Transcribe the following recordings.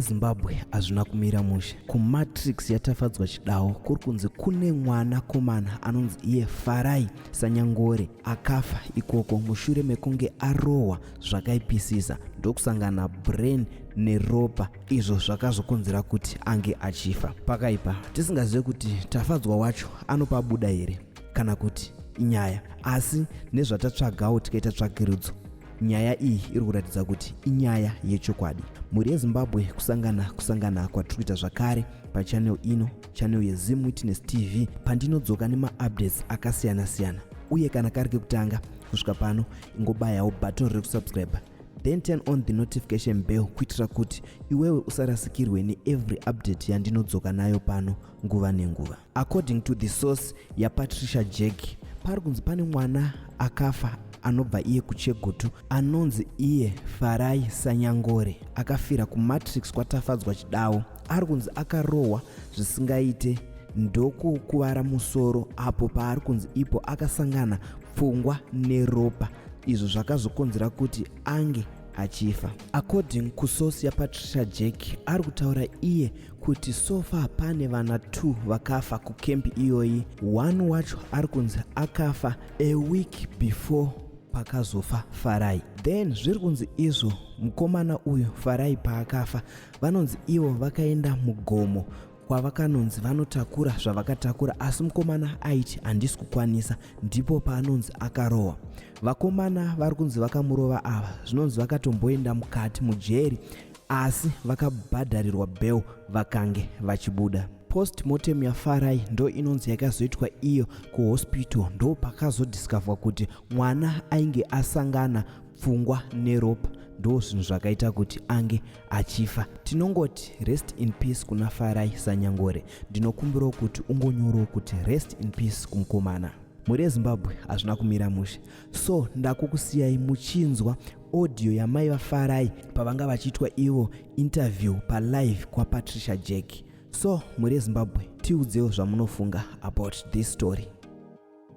yezimbabwe hazvina kumira mushe kumatrix yatafadzwa chidawo kuri kunzi kune mwana komana anonzi iye farai sanyangore akafa ikoko mushure mekunge arohwa zvakaipisisa ndokusangana brain neropa izvo zvakazokonzera kuti ange achifa pakaipa tisingazive kuti tafadzwa wacho anopabuda here kana kuti inyaya asi nezvatatsvagawo tikaita tsvagirudzo nyaya iyi iri kuratidza kuti inyaya yechokwadi mhuri yezimbabwe kusangana kusangana kwatiri kuita zvakare pachanel ino chanel yezim witness tv pandinodzoka nemaupdates akasiyana-siyana uye kana kari kekutanga kusvika pano ingobayawo button rekusubscribe then turn on the notification bell kuitira kuti iwewe usarasikirwe neevery update yandinodzoka nayo pano nguva nenguva according to the source yapatricia jack pari kunzi pane mwana akafa anobva iye kuchegutu anonzi iye farai sanyangore akafira kumatrix kwatafadzwa chidawo ari kunzi akarohwa zvisingaite ndokukuvara musoro apo paari kunzi ipo akasangana pfungwa neropa izvo zvakazokonzera kuti ange achifa according kusource yapatricia jack ari kutaura iye kuti so far pane vana 2 vakafa kukembi iyoyi one wacho ari kunzi akafa a week before pakazofa farai then zviri kunzi izvo mukomana uyu farai paakafa vanonzi ivo vakaenda mugomo kwavakanonzi vanotakura zvavakatakura asi mukomana aiti handisi kukwanisa ndipo paanonzi akarohwa vakomana vari kunzi vakamurova ava zvinonzi vakatomboenda mukati mujeri asi vakabhadharirwa bel vakange vachibuda postmortem yafarai ndo inonzi yakazoitwa iyo kuhospital ndo pakazodiscoverwa kuti mwana ainge asangana pfungwa neropa ndo zvinhu zvakaita kuti ange achifa tinongoti rest in peace kuna farai sanyangore ndinokumbirawo kuti ungonyorawo kuti rest in peace kumukomana mhuri yezimbabwe hazvina kumira mushe so ndakukusiyai muchinzwa audio yamai vafarai pavanga vachiitwa ivo interview palive kwapatricia jack so mhuri yezimbabwe tiudzewo zvamunofunga about this story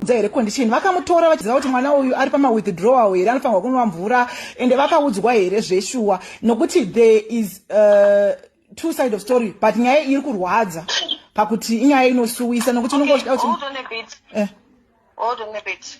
dza here condition vakamutora vachiziva kuti mwana uyu ari pama withdrawal here anofanirwa kunwa mvura ende vakaudzwa here zveshuwa nokuti there is uh, two side of story but nyaya iri kurwadza pakuti inyaya inosuwisa nokuti unenge uchida kuti eh. Hold on a bit.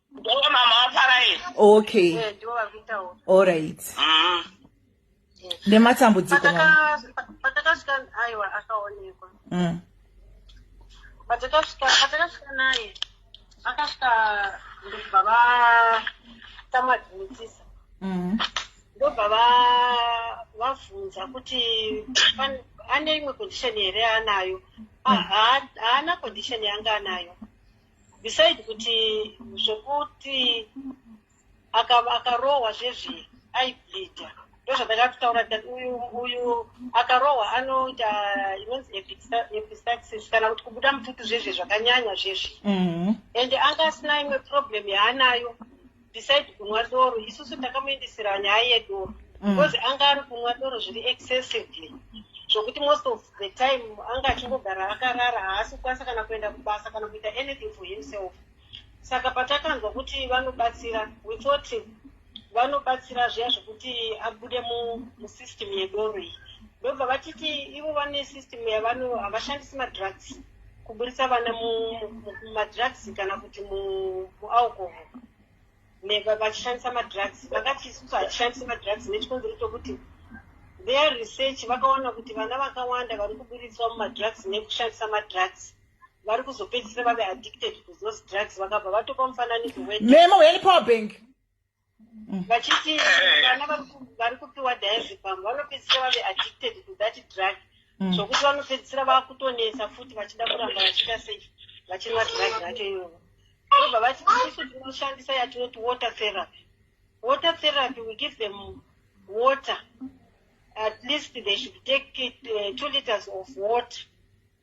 Ndivo mama vafarai. Okay. Eh, ndivo vari kutaura. All right. Mm. Nematambudziko mama. Patakasvika aiwa akaonekwa. Mm. Patakasvika patakasvika naye akasvika ndobva va tamadhimitisa. Mm. Ndobva va vavhunza kuti ane imwe condition here anayo. Mm. Haana condition yanga anayo. beside kuti zvekuti akarohwa aka zvezvi aibleeda ndozvatakatotaura tikati uyu uyu akarohwa anoita inonzi epistaxis kana kuti kubuda mututu zvezvi zvakanyanya zvezvi mm-hmm. and anga asina imwe problem yaanayo besides kunwa doro isusu takamuendesera nyaya yedoro mm. because mm. anga ari kunwa doro zviri excessively zvokuti most of the time anga achingogara akarara haasi kukwanisa kana kuenda kubasa kana kuita anything for himself saka patakanzwa kuti vanobatsira we thought vanobatsira zviya zvekuti abude musystem yedoro iyi ndobva vatiti ivo vane system yavano havashandisi madrugs kuburitsa vana mumadrugs kana kuti mualcohol vachishandisa madrugs vakati isusu hatishandisi madrugs nechikonzero chokuti their research vakaona kuti vana vakawanda vari kuburitswa mumadrugs nekushandisa madrugs vari kuzopedzisira vave addicted to those drugs vakabva vatopa mufananidzo wememo welipower bank vachiti vana vari kupiwa diazepam vanopedzisira vave addicted to that drug mm. zvokuti vanopedzisira vakutonetsa futi vachida kuramba vachiita sei vachinwa drug racho iyoyo ndobva vati isu tinoshandisa yatinoti water therapy water therapy we give them water at least they should take it, uh, two liters of water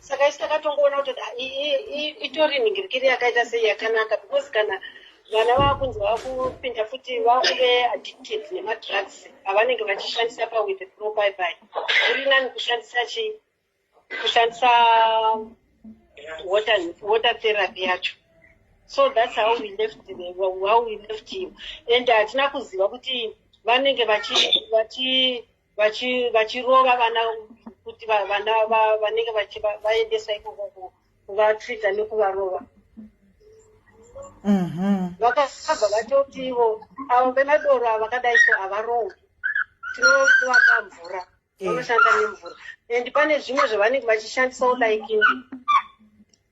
saka isu takatongoona kuti itori nhingirikiri yakaita sei yakanaka because kana vana vakunzi vakupinda futi vakuve addicted nemadrugs avanenge vachishandisa pawith pro baibai uri nani kushandisa chi kushandisa water, water therapy yacho so thats how we left the, how we left him and hatina kuziva kuti vanenge vachi, vachi vachirova vana kuti vana vanenge vaendesa ikoko kuvatreata nekuvarova mm-hmm. vakabva vatoti ivo avo vemadoro ava vakadai so havarowi tinovaka mvura eh. vanoshanda nemvura and pane zvimwe zvavanenge vachishandisawo like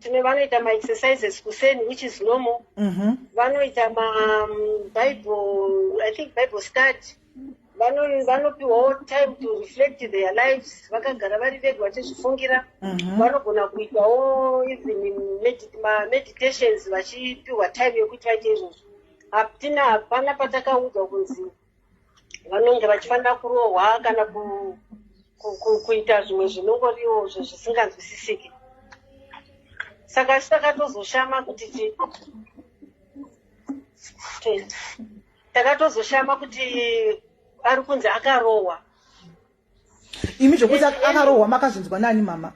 tine vanoita maexercises kuseni which is normal mm -hmm. vanoita mabible um, i think bible study vanopiwawo time to reflect their lives vakagara vari vega vachizvifungira mhm. vanogona kuitawo even mameditations vachipiwa time yekuti vaite izvozvo hatina hapana patakaudzwa kunzi vanonge vachifanira kurohwa kana kuita zvimwe zvinongoriwo zvisinganzwisisiki saka isu takatozoshama kuti takatozoshama kuti ari kunzi akarohwa imi zvokuti akarohwa makazvinzwa nani mama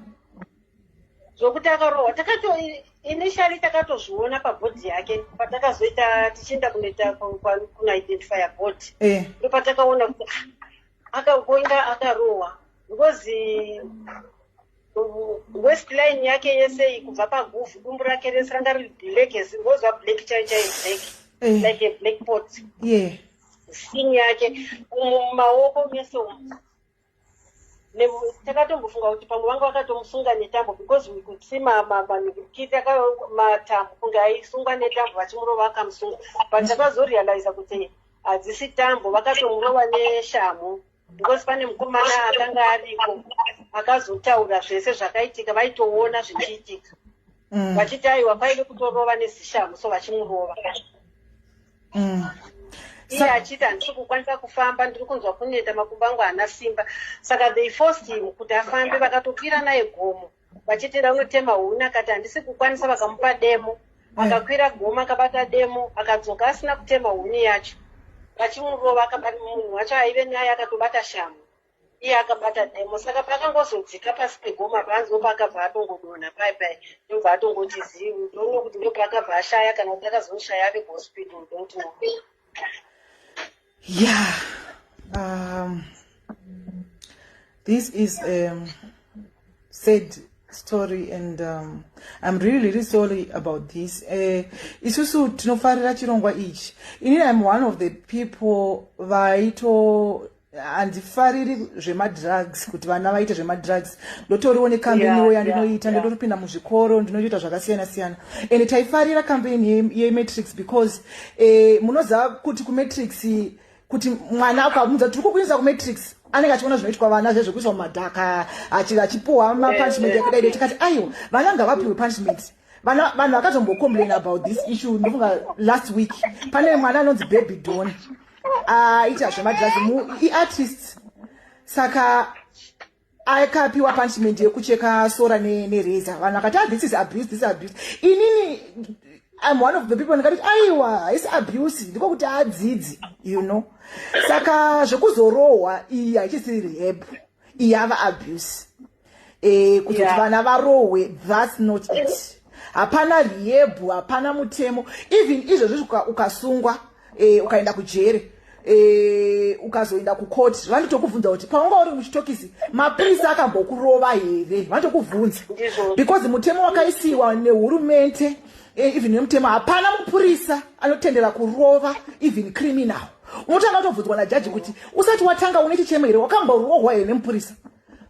zvokuti akarohwa takato initially takatozviona pabhodhi yake patakazoita tichienda kunoita kunaidentifya bhodhi eh. ndo patakaona kuti ah, akagoinga akarohwa because westline yake yese iyi kubva paguvhu dumbu rake rese ranga riri black as ngozva black chai chai black eh. like a black pot yeah. skin yake mumaoko mese umu takatombofunga kuti pamwe vanga vakatomusunga netambo because we could see manikiti matambo kunge aisungwa netambo vachimurova akamusunga but takazorealiza kuti hadzisi tambo vakatomurova neshamhu because pane mukomana akanga ariko akazotaura zvese zvakaitika vaitoona zvichiitika mm. vachiti aiwa paide kutorova nezishamu so vachimurova mm. iye achiti handisi kukwanisa kufamba ndiri kunzwa kuneta makumbo angu haana simba saka they forced him kuti afambe vakatopira naye gomo vachiti ranotema huni akati handisi kukwanisa vakamupa demo eh. akakwira goma akabata demo akadzoka asina kutema huni yacho vachimurova akabata munhu wacho aive naye akatobata shamhu iye akabata demo saka pakangozodzika pasi pegoma panzi opaakabva atongodonha pai pai ndobva atongoti zivi ndoona kuti ndopaakabva ashaya kana kuti akazoshaya ave kuhospital ndokuti yeah um, this is a um, sad story and um, i'm really really sorry about this uh, isusu tinofarira chirongwa ichi ini im one of the people vaito handifariri zvemadrugs kuti vana vaite zvemadrugs ndotoriwo nekambeniwo yandinoita ndotopinda muzvikoro ndinotoita zvakasiyana siyana and taifarira kambeni yematrix because eh, munoziva kuti kumatrix kuti mwana akamudza tiri kukuinisa kumatrix anenge achiona zvinoitwa vana zve zvekuiswa mumadhaka achipuwa mapunishment yakadai dai tikati aiwa vana ngavapiwe punishment vana vanhu vakazombocomplain about this issue ndofunga last week pane mwana anonzi baby don aita ah, zvemadrugs iartist saka akapiwa punishment yekucheka sora nereza vanhu vakati ah, this is abuse this is abuse inini I'm one of the people ndikati aiwa haisi abuse ndiko kuti adzidzi you know saka zvekuzorohwa iyi hachisi rehab iyi ava abuse e, kuzoti yeah. vana varohwe thats not it hapana rehab hapana mutemo even izvozvo ukasungwa uka e, ukaenda kujeri e, ukazoenda kukoti vanotokubvunza kuti paunga uri muchitokisi mapurisi akambokurova here vanotokubvunza because mutemo wakaisiwa nehurumente e, even nemutemo hapana mupurisa anotendera kurova even criminal unotanga utobvunzwa najaji kuti usati watanga une chichemo here wakamborohwa here nemupurisa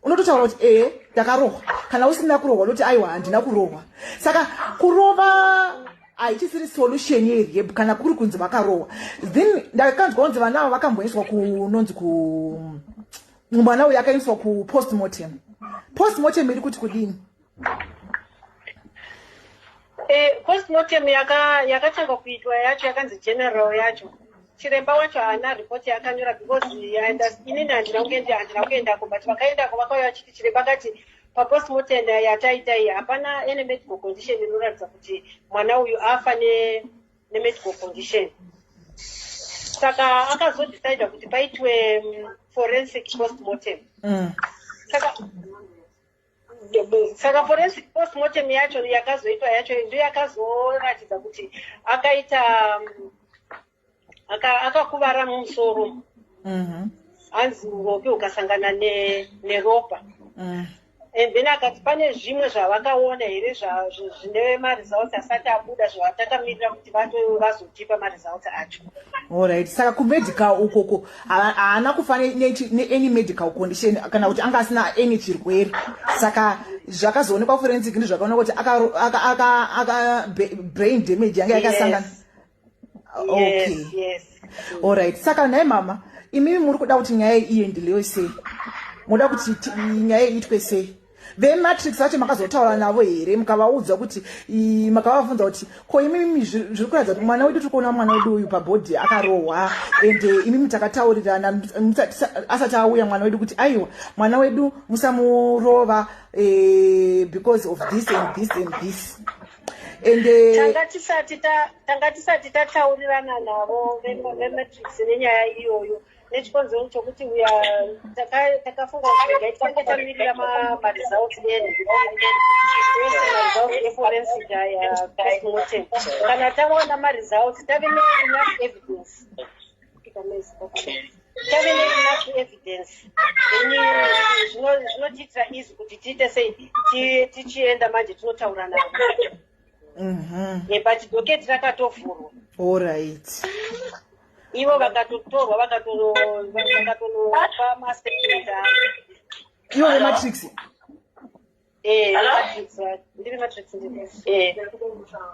unototaura kuti ee eh, ndakarohwa kana usina kurohwa unoti aiwa handina kurohwa saka kurova haichisiri solution yerehab kana kuri kunzi vakarohwa then ndakanzwa kunzi vana avo vakamboiswa kunonzi ku mwana uyo akaiswa kupostmortem postmortem iri kuti kudini Eh, postmortem yaka- yakatanga kuitwa yacho yakanzi general yacho chiremba wacho haana report yaakanyora because I underst- inini handina kuenda handina kuendako but vakaendako vakauya vachiti chiremba akati papostmortem yataita iyi hapana any medical condition inoratidza kuti mwana uyu afa ne- nemedical condition saka akazodecida kuti paitwe mm, forensic postmortem Mm. saka saka forensic post mortem yacho yakazoitwa yacho ndiyo yakazoratidza kuti akaita mm, akakuvara mumusoro mhm. hanzi uropi ukasangana neropa mhm. and then akati pane zvimwe zvavakaona here zvine maresults asati abuda zvavatakamirira kuti vazotipa maresults acho orit saka kumedical ukoko haana kufa neany medical condition kana kuti anga asina any chirwere saka zvakazoonekwa forensic ndi zvakaona kuti akabrain damage yanga yakasangana okay allright saka nhai mama imimi muri kuda kuti nyaya iendelewe sei moda kuti nyaya iitwe sei vematrix vacho makazotaura navo here mukavaudza kuti makavavunza kuti ko imimi zviri kuratidza kuti mwana wedu tiri kuona mwana wedu uyu pabhodhi akarohwa and eh, imimi takataurirana asati auya mwana wedu kuti aiwa mwana wedu musamurova eh, because of this and this and this and eh, tanga tisati tataurirana navo vematrix nenyaya iyoyo nechikonzero chokuti uya takafunga kuti regai tifanike tamirira maresults enu ese maresults eforensic aya postmortem kana taona maresults tave neenough evidence tave neenough evidence zvinotiitira izi kuti tiite sei tichienda manje tinotaura navo mhm. eh, but doketi rakatovhurwa allright ivo vakatotorwa vakatoropa maseketa ivo vematrix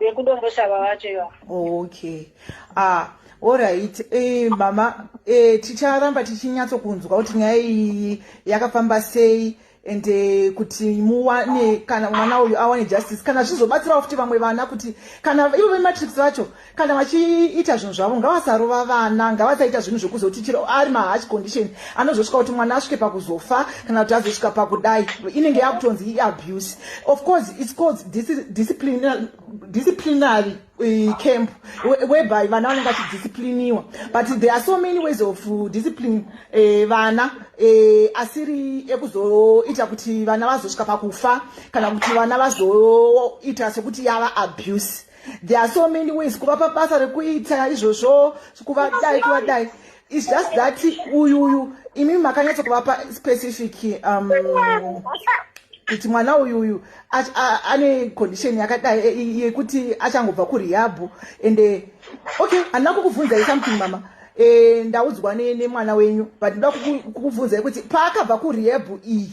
vekudomboshava vacho iva okay ah orit eh, mama eh, ticharamba tichinyatsokunzwa kuti nyaya iyi yakafamba sei and eh, kuti muwane kana mwana uyu awane justice kana zvizobatsirawo futi vamwe vana kuti kana ivo vematrix vacho kana vachiita zvinhu zvavo ngavasarova vana ngavasaita zvinhu zvekuzoti chiro ari mahash condition anozosvika kuti mwana asvike pakuzofa kana kuti azosvika pakudai inenge yakutonzi iabuse of course its called disciplinary eh, camp whereby vana vanenge vachidiscipliniwa but there are so many ways of uh, discipline eh, vana eh, asiri ekuzoita kuti vana vazosvika pakufa kana kuti vana vazoita sekuti yava abuse there are so many ways kuvapa basa rekuita izvozvo kuvadai kuvadai It's just that uyu uyu imi makanyatso kuvapa specific um, kuti mwana uyu uyu ane condition yakadai yekuti achangobva kurihabhu and eh, okay handina kukubvunzai something mama e, ndaudzwa nemwana wenyu but ndoda kukubvunzai kuti paakabva kurihabhu iyi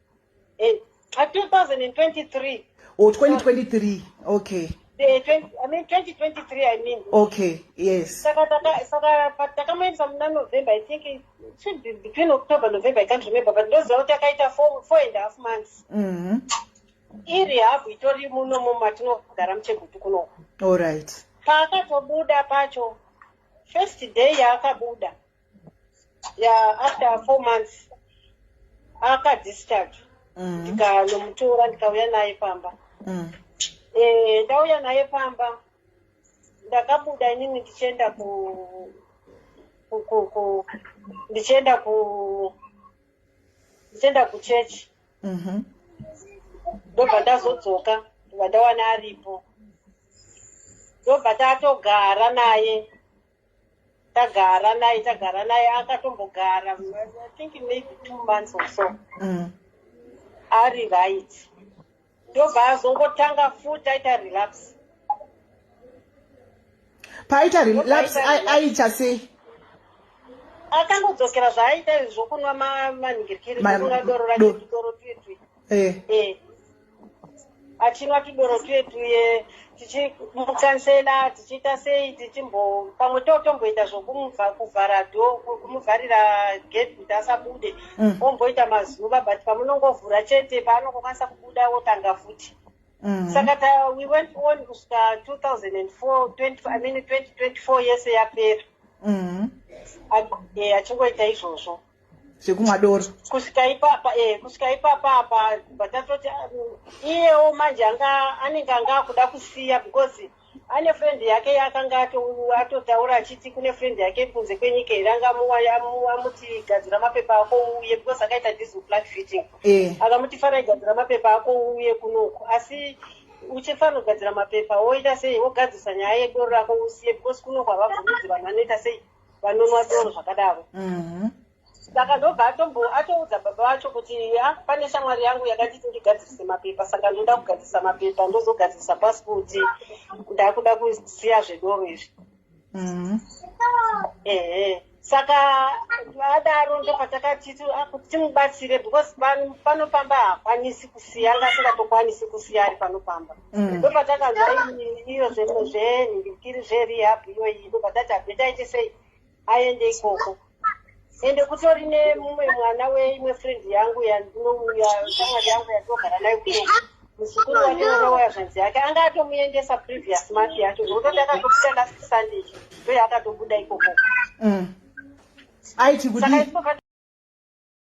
Eh, 2023. Oh, 2023. Okay. The 20, I mean 2023 I mean. Okay, yes. Saka taka saka takamuendesa muna November I think it should be between October November I can't remember but ndoziva kuti akaita 4 4 and a half months. Mhm. Mm iri habu itori muno mu matinogara muchegutu kuno. All right. Paakatobuda pacho first day yaakabuda ya after four months akadischarge mm. ndikanomutora ndikauya naye pamba mm. eh, ndauya naye pamba ndakabuda inini ndichienda ku ndichienda ku ndichienda kuchechi mhm. ndobva ndazodzoka ndobva ndawana aripo ndobva tatogara naye tagara naye tagara naye akatombogara i think maybe two months or so mm. ari right ndobva azongotanga futi aita relapse paaita relapse aita sei akangodzokera zvaaita zvokunwa manhingirikiri kunwa doro rake doro twitwi eh. eh. achinwa tudoro twedu ye tichimukansela tichiita sei tichimbo pamwe totomboita zvokumubva kuvhara do kumuvharira gate kuti asabude Mm. omboita mazuva but pamunongovhura chete paanongokwanisa kubuda wotanga futi Mm. saka ta we went on kusvika 2004 20, i mean 2024 yese yapera Mm. Ac- eh, achingoita izvozvo zvekumwa doro kusvika ipapa e eh, kusvika ipapa apa kubva tatoti ah, iyewo manje anga anenge anga akuda kusiya because ane friend yake yaakanga atotaura achiti kune friend yake kunze kwenyika here anga amuti gadzira mapepa ako uuye because akaita diesel black fitting eh. akamuti fana igadzira mapepa ako uuye kunoku asi uchifanira kugadzira mapepa woita sei wogadzisa nyaya yedoro rako usiye because kuno kwavabvumidzi vanhu vanoita sei vanonwa doro zvakadaro mhm. saka ndobva atombo atoudza baba vacho kuti ya pane shamwari yangu yakanditi ndigadzirise mapepa saka ndoda kugadzirisa mapepa ndozogadzirisa pasipoti ndakuda kusiya zvedoro izvi mhm. ehe saka adaro ndopatakati ah, kuti timubatsire because panofamba hakwanisi kusiya ngasingatokwanisi kusiya ari panofamba mm. ndo patakabva iyo zvinhu zvenhirikiri zverehab iyoyi ndo patati abve taite sei aende ikoko ende kutori nemumwe mwana weimwe friend yangu yandinouya shamwari yangu yatogara nayo kuno muzukuru wake mwana waya zvanzi yake anga atomuendesa previous month yacho zvokuti ndakatobuda last sunday ndo yaakatobuda ikoko mm. aiti kudii